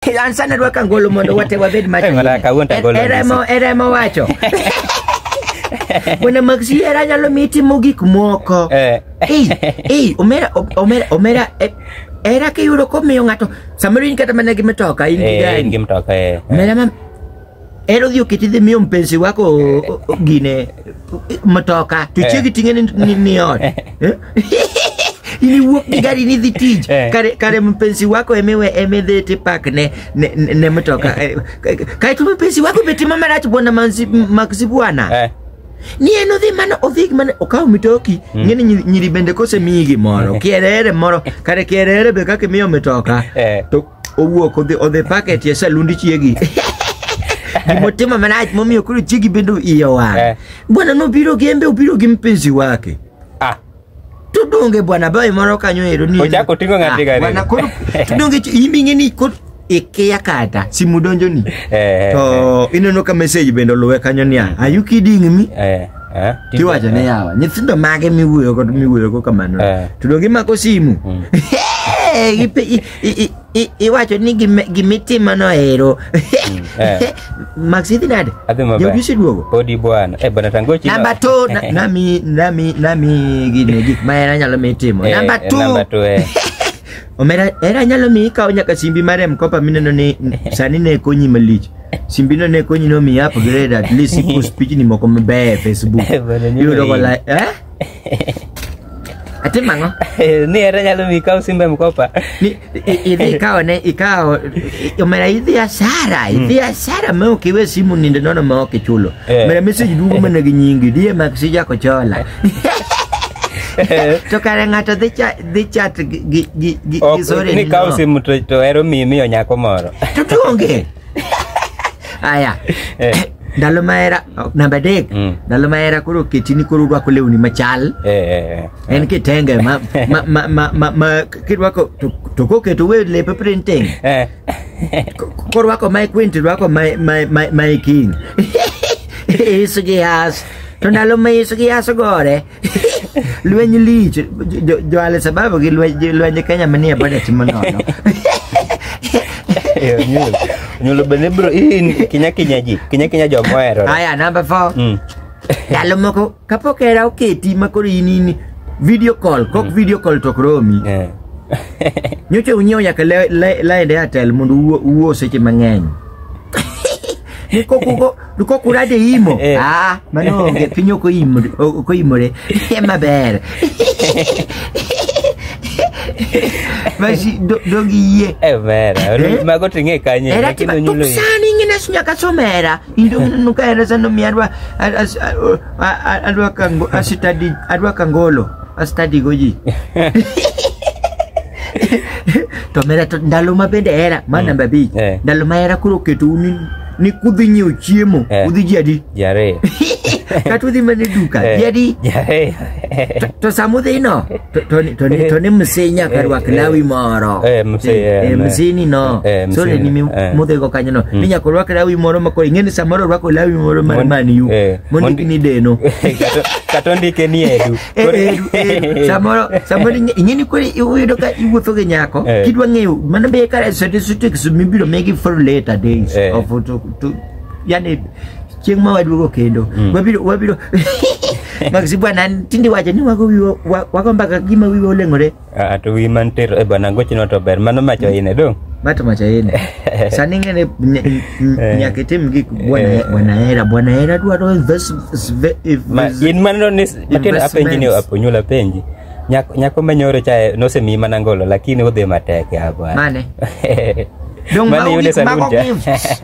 An sani rwaka ngolo mondo wate wabed macho. Eh, mara kawuono to agolo E- Eremo nisi. eremo wacho. Bwana Maxi era nyalo miyi timo gik moko. Eh. Ei, ei, omera omera omera eh, era kiyudo komiyo ng'ato samoro in kata mana gi mitoka in gi Eh, gari. in gi mtoka eh. Omera ma en odhi oketi dhi miyo mpenzi wako o- o- o- gine mtoka to chiegi ting'e ni, ni, ni ot Eh? ini wuok gi gari ni dhi tich Eh. kare, kare mpenzi wako emewe emedhe tipak ne, ne, ne, ne mtoka Eh, kae to mpenzi wako be timo marach bwana manzi- maksi bwana Eh, ni en odhi mana odhi mana okawo mitoki ng'e ni nyiri- nyiri bende kosemiyi gimoro kierere moro kare kierere be kaka imiyo mitoka Eh. to owuok odhi odhi packet ya salundi chiegi gimotimo manach momiyo koro chiegi bende iye owang Eh. bwana nobiro gi embe obiro gi mpenzi wake Ah, tudonge bwana bawe moro kanyo ero ni Ochako oting'o ng'ati Ah, gari. bwana koro tudonge ch- imbe ing'e ni koro ikiya kata simu donjo ni eh, to ineno ka message bende oluwe kanyo niya are you kidding me eh, eh, tiwacho ne yawa nyithindo mage miwuoyogo miwuoyogo kamano Eh. to donge imako simu Mm. Hey, ipe- i- I- i- i- iwacho ni gime- gimitimono ero eh. max idhi nade Adhi maber. jaudi oseduogo Podi bwana. Eh bwana tangochi. namba two na- nami nami nami gine gik ma era nyalo mi timo namba two Namba two eh. omera era nyalo mi ikawo nyaka simbi mar mkopa mineno ni sani ne konyi malich simbino ne konyi no mi upgrade at least ipost pichni moko mabeyo e facebook Eh, bwana, nyuma yudo hii. kola eh Atim ang'o? ni ere nyalo mi kaw simbe mkopa Ni- i- idhi ikawo ne ikawo i- omera idhi asara idhi asara ma ok iwe simu nindo nono ma ok ichulo Eh. omera message duogo mana gi nyingi diye mak si jako chola to kare ng'ato dhi cha- dhi chat gi- gi gi- gi- gi Ok, sore ni kaw nino. simu to to ero mi miyo nyako moro to tuonge aya Eh. ndalo mahera namba adek Mm. ndalo mahera koro ketini koro urwako lewni machal Eh, eh, eh. en kitenge ma, ma, ma, ma, ma, ma kirwako to, to koketo we lepe printing Eh. Ko- korwako mae queen tirwako mae- mae- mae mae king isu gi has to ndalo ma isu gi has ogore lweny lich jo- jo al sababu gi lweny gi lweny kenya manie budget manono Eh, Onyulo. Onyulo bende bro hii ni kinya kinya ji. Kinya kinya jo mohero. haya number four Mm. ndalo moko kapok era oketi ma koro in in video call kok video call tok romi Eh. nyocha unyiewo nyaka le- le- laende atel mondo uwo- uwo seche mang'eny Niko kugo niko kurade imo. Eh. Ah, mano onge piny ok oimore ok oimore. Eh, Maber. Basi do- dogi yie. Eh, mera Eh? mago ting'e kanye Era lakini tima onyulo hii. tuksani ngina sunya kasomera. Indo nuka era sano miarwa adwa kango asitadi adwa kangolo. Astadi goji. to mera to ndalo ma bende era ma namba abich Eh. ndalo ma era koro oketou ni ni kudhi nyiewo chiemo Eh. udhi ji adi Ji ariyo. kata udhi mana e duka Eh, ji adi Ji ariyo. To- to sama udhino to- to ni- to ni- to ni msee nyaka rwak Eh, eh, lawi moro eh, msee, Eh, eh, eh, ne. msee ni no Eh, msee sole ni, ni mi- eh. mudhigo kanyo no ni nyaka orwak lawi moro makoro ing'e ni samoro orwako lawi moro mar Mon- man u eh, mondiki mondi- ni deno Kata- kata ondike ni edu Eh, Koro- eh, eh, samoro samoro ing'e- ing'e ni koro iyudo ka iwuotho gi nyako Eh. kidwa ng'eyo mano be kare statistics mibiro megi for later days Eh. of to, to, yani chieng' ma waduogo kendo wabiro wabiro maxi bwana tinde wacho ni wago wiwa- wa- wago mbaka gima wiwa oleng'ore Ah, to wi mantir e bana gochino to ber mano macho ine dong. Mato macha ine. Sani ngene ny- ny- Eh. nyaka itim gik bwana Eh. bwana hera bwana hera dwaro invest inve- Ma, invest- in mano ni matin apenji ni Investments. aponyula penji. Nyako, nyako menyoro chae nosemi mana ngolo lakini udhi matek ya bwana. Mane? Dong Mane mago yude gik- salun mago cha. gifts.